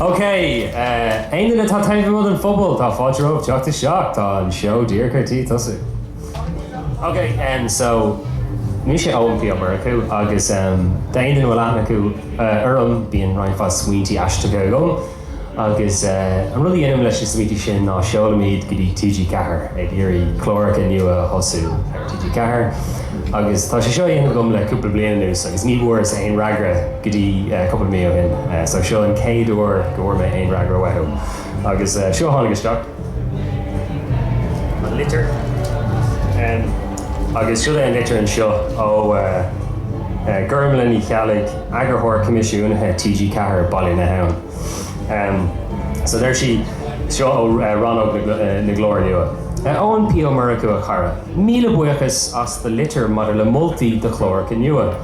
OK, aon duine atá taobh amuigh den phobal, tá fáilte romhaibh teacht isteach, tá an seó díreach ar tí tosú. OK, so mise Eoin P. Ó Murchú agus d'aon duine a bhfuil aithne acu orm, bíonn roinnt mhaith smaointe aisteacha agam. Agus an rud a dhéanaim leis na smaointe sin ná seolaim iad go dtí TG4 ag iarraidh cláracha nua a thosú ar TG4 agus tá sé seo á dhéanamh agam le cúpla bliain anuas agus ní bhfuaireas aon fhreagra go dtí cúpla mí ó shin. So seo an chéad uair go bhfuair mé aon fhreagra uathu agus seo a tháinig isteach. An litir. Agus seo é an litir anseo ó Gormlaith Ní Cheallaigh, Eagarthóir Coimisiúnaithe TG Ceathair, Baile na hAbhann. So deir sí, seo ó Rannóg na gClár Nua. A Eoin P. Ó Murchú a chara. Míle buíochas as do litir maidir le moltaí do chláracha nua.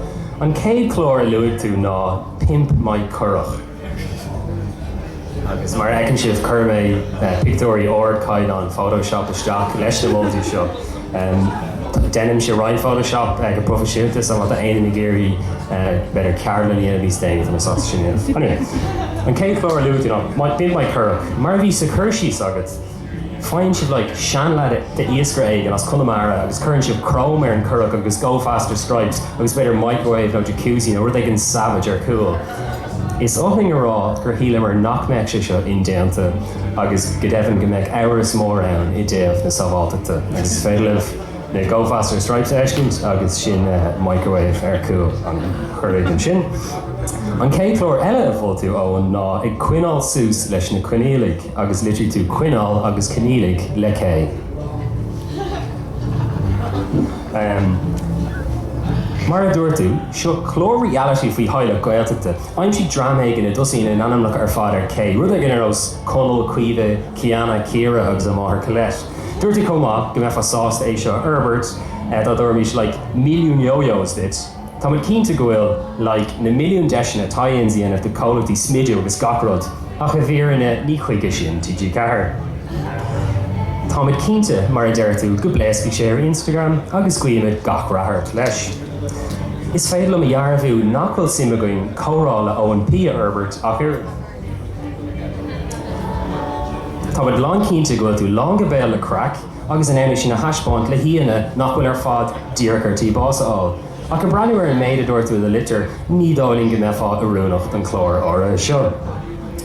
An chéad chlár a luaigh tú ná Pimp my Currach. Agus mar a fheiceann sibh chuir mé pictiúirí ardchaighdeáin Photoshop isteach leis na moltaí seo. Deinimse roinnt Photoshop go proifisiúnta so má tá éinne ag iarraidh b'fhéidir ceardlann a dhéanamh níos déanaí tá mé sásta sin a dhéanamh. Anyway, an chéad chlár a luaigh tú ná Pimp my Currach. Mar a bhí sa chur síos agat, Faigheann sibh like seanleaid d'iascaire éigin as Conamara agus cuireann sibh chrome ar an gcurach agus go faster stripes agus b'fhéidir microwave nó jacuzzi nó rud éigin savage ar chúl. Is oth linn a rá gur shíleamar nach mbeadh sé seo indéanta agus go deimhin go mbeadh amhras mór ann i dtaobh na sábháilteachta agus is féidir libh na go faster stripes a fheiscint agus sin microwave ar chúl an churaigh ansin. An chéad chlár eile a mhol tú Eoin ná Ag Koinneáil Suas leis na Koinníollaigh. agus litrigh tú Koinneáil agus Koinníollaigh le K. Mar a dúirt tú, seo clár reality faoi theaghlach Gaeltachta. Aimsígí dream éigin a dtosaíonn a n-ainmneacha ar fad ar K, rud éigin ar nós Konall, Kaoimhe, Klíodhna, Kiara agus a máthair Kolette. Dúirt tú chomh maith go mbeifeá sásta é seo a fhorbairt dá dtabharfaimis like milliún yo-yos duit. Táimid cinnte go bhfuil, like, na milliúin deiseanna tie-ins a dhéanamh do chomhlachtaí smididh agus gach rud, ach i bhfírinne ní chuige sin TG4. Táimid cinnte, mar a deir tú, go bpléascfaidh sé ar Instagram agus guímid gach rath ort leis. Is féidir liom a dhearbhú nach bhfuil suim againn Comhrá le Eoin P a fhorbairt ach oiread. Táimid lán cinnte go bhfuil tú lán go béal le craic. agus an fheidhm sin a thaispeáint le haíonna nach bhfuil ar fad díreach ar tí bás a fháil. Ach ag breathnú ar an méid a dúirt tú i do litir, ní dóigh linn go mbeifeá oiriúnach don chlár áirithe seo.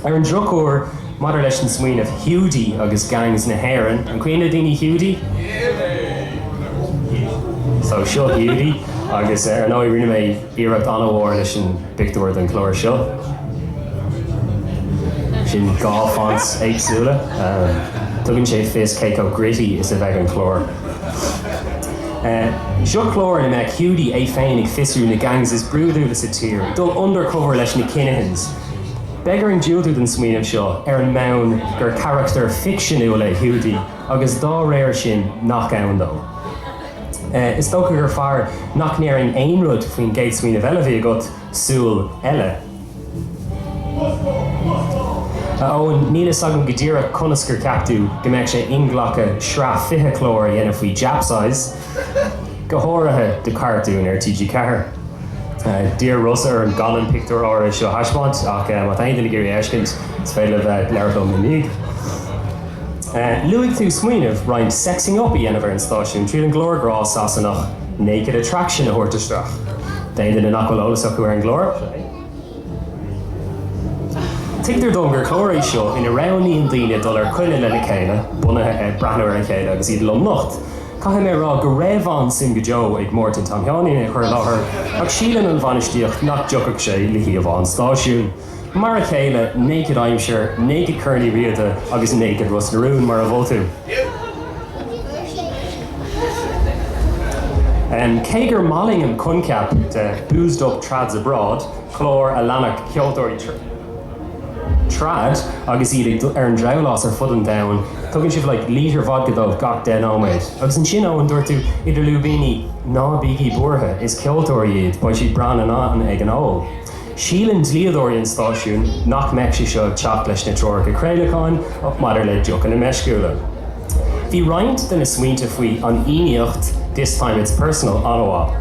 Ar an drochuair, maidir leis an smaoineamh Hiúdaí agus Gangs na hÉireann, an cuimhin le daoine Hiúdaí? Só, seo Hiúdaí agus ar ndóigh rinne mé. iarracht an-mhór leis an bpictiúr den chlár seo. Sin dhá fonts éagsúla. Tugann sé le fios cé chomh gritty is a bheidh an clár. Seo clár ina mbeidh Hiúdaí é féin ag fiosrú na gangs is brúidiúla sa tír, ag dul undercover leis na Kinahans. Beidh orainn diúltú don smaoineamh seo ar an mbonn gur carachtar ficseanúil é Hiúdaí agus dá réir sin nach ann dó. Is dócha gur fearr nach ndéarfainn aon rud faoin gcéad smaoineamh eile a bhí agat, súil eile. A Eoin, níl a fhios agam go díreach conas gur cheap tú go mbeadh sé inghlactha sraith 20 clár a dhéanamh faoi japsize, go háirithe do chartún ar TG4. D'iarr Rossa orm gan an pictiúr áirithe seo a thaispeáint ach má tá aon duine ag iarraidh é a fheiscint, is féidir libh labhairt liom ina dhiaidh. Luaigh tú smaoineamh roinnt 'sexing up' a dhéanamh ar an stáisiún tríd an gclár grá Sasanach 'Naked Attraction' a thabhairt isteach. D'aon duine nach bhfuil eolas acu ar an gclár, tuigtear dom gur clár é seo ina roghnaíonn daoine dul ar coinne lena chéile bunaithe ar breathnú ar a chéile agus iad lomnocht. Caithfidh mé a rá go raibh an-suim go deo ag Máirtín Tom Sheáinín é a chur i láthair ach síleann an bhainistíocht nach dtiocfadh sé le híomhá an stáisiúin. Mar a chéile Naked Aimsir, Naked Corn Uí Riada agus Naked Ros na Rún mar a mhol tú. Cé gur maith linn an coincheap de 'Boozed Up Trads Abroad', clár a leanfadh ceoltóirí trad agus iad ag ar an drabhlás ar fud an domhain, tugann sibh like lítear vodka dóibh gach deich nóiméad. Agus ansin Eoin, dúirt tú, idir lúibíní, 'Ná bígí buartha, is ceoltóirí iad, beidh siad breá in ann ag an ól'. Síleann dlíodóirí an stáisiúin nach mbeadh sé seo ag teacht leis na treoracha craolacháin maidir le deochanna meisciúla. Bhí roinnt de na smaointe faoi an Fhiannaíocht, This Time It's Personal an-mhaith.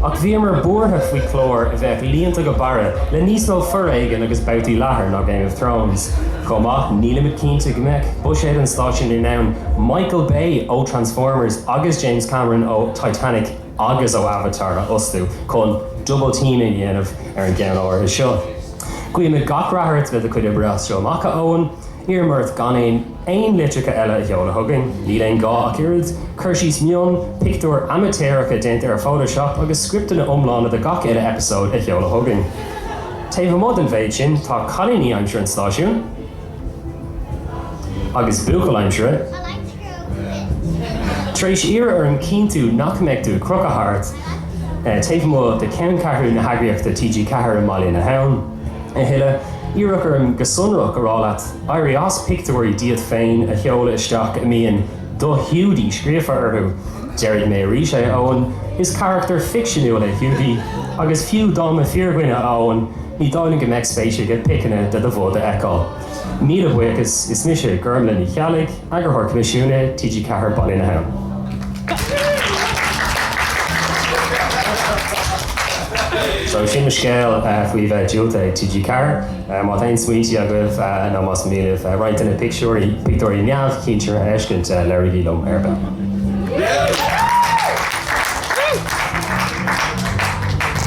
Ach bhíomar buartha faoi chlár a bheadh líonta go barra le níos mó foréigin agus babhtaí leathair ná Game of Thrones. Chomh maith, nílimid cinnte go mbeadh buiséad an stáisiúin in ann Michael Bay ó Transformers agus James Cameron ó Titanic a agus ó Avatar a fhostú chun 'double team' a dhéanamh ar an gceann áirithe seo. Guímid gach rath ort le do chuid oibre as seo amach, a Eoin. Iarraim ort gan aon aon litreacha eile a sheoladh chugainn. Níl aon ghá ach oiread cur síos mion, pictiúir amaitéaracha déanta ar Photoshop agus scripteanna iomlána do gach uile eipeasóid a sheoladh chugainn. Taobh amuigh den mhéid sin, tá cailíní aimsire an stáisiúin, agus buachaill aimsire, tar éis iarradh orm cinntiú nach mbeidh tú ag crochadh thart taobh amuigh de cheanncheathrú na heagraíochta TG4 i mBaile na hAbhann a thuilleadh, iarradh orm go sonrach a rá leat éirí as pictiúirí díot féin a sheoladh isteach a mbíonn. Do Hiúdaí scríofa orthu. Déarfaidh mé arís é, a Eoin, is carachtar ficseanúil é Hiúdaí, agus fiú dá mba fíordhuine, a Eoin, ní dóigh liom go mbeadh spéis aige piceanna de do bhod a fheiceáil. Míle buíochas, is mise Gormlaith Ní Cheallaigh, Eagarthóir Coimisiúnaithe TG Ceathair, Baile na hAbhann. Seo, sin mo scéal faoi bheith diúltaithe ag TG4. Má tá aon smaointí agaibh nó más mian libh roinnt de na pictiúirí, pictiúirí neamhchinsire a fheiscint, labhraígí liom ar an.